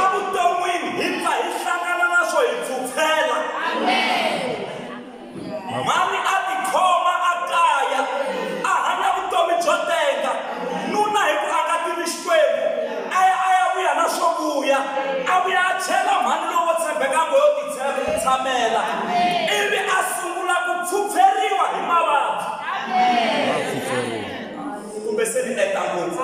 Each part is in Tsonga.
Evuton'wini hi pfa hi hlangana na swo hi pfupfela. Mhani a tikhoma a kaya, a hanya vutomi byo tenga. Nuna hi ku aka tini Xikwembu, a ya a ya vuya na swo vuya, a vuya a chela mhani lowo tshembeka ngo yo titshamela, ivi a sungula ku pfupferiwa hi mavabyi. Kumbe se ni enta ngopfu?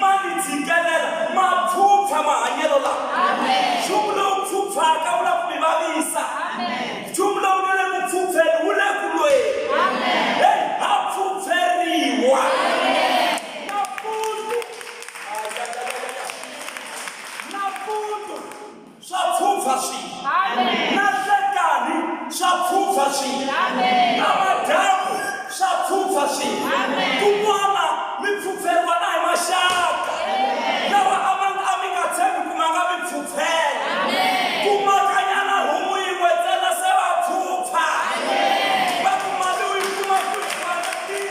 Ma ni tshikelela, ma pfupfa mahanyelo lawa. Nchumu lowu pfupfaka wu lava ku mi vavisa. Nchumu lowu nga le ku pfupfeni wu le ku lweni. Hey, ha pfupferiwa. Nampundzu. Ay, ay, ay, ay, ay. Nampundzu. swa pfupfa swilo na nhlekani swa pfupfa swilo na madyambu swa pfupfa swilo kun'wana mi pfupferiwa na hi maxaka lawa a ma a mi nga tshembi ku ma nga mi pfupfela kumakanyana homu yin'we ntsena se va pfupfa va ku mali u yi kuma ku yi fanekile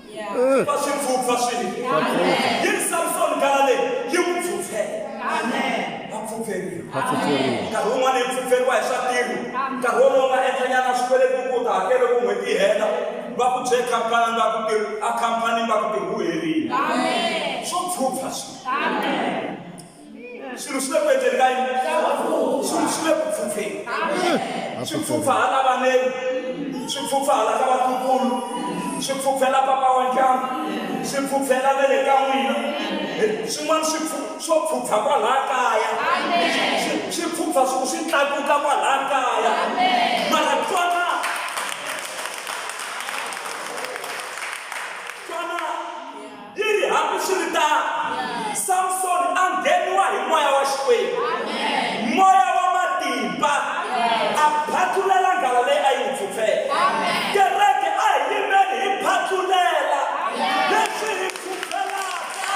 va swi pfupfa swilo yi ri samsoni gala leyi yi n'wi pfupfela va pfupferiwa nkarhi wun'wana yi pfupferiwa hi swa tiko nkarhi wolowo nga endlanyana swikweleti u ku ta hakele ku n'hweti yi hela va ku bye khampani va ku ti a khampani va ku ti hu herile swo pfupfa swilo swilo swi le ku endleni ka yini swilo swi le ku pfupfeni swi pfupfa hala vaneni swi pfupfa hala ka vatukulu swi pfupfela papa wa ndyangu swi pfupfela ve le ka n'wina swin'wana swi swo pfupfa kwalaha kaya swi pfupfa swi swi tlakuka kwalaha kaya mara twana Yi ri, Hambiswiritano, Samsoni a ngheniwa hi moya wa Xikwembu, moya wa matimba, a phatlulela nghala leyi a yi n'wi phyuphyela. Kereke, a hi yimeni hi phatlulela leswi hi phyuphyelaka.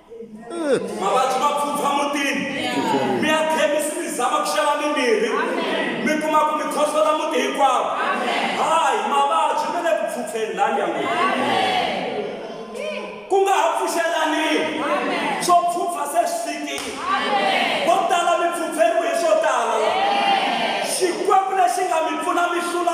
vavabyi va pfupfa mutini mi ya khemisi mi zama ku xava mimirhi mi kuma ku mi khohlola muti hinkwawo hayi mavabyi mi le ku pfupfeni laha ndyangwini ku nga ha pfuxelaniwi swo pfupfa se swi fikile vo tala mi pfupferiwe hi swo tala la xikwembu lexi nga mi pfuna mi hlula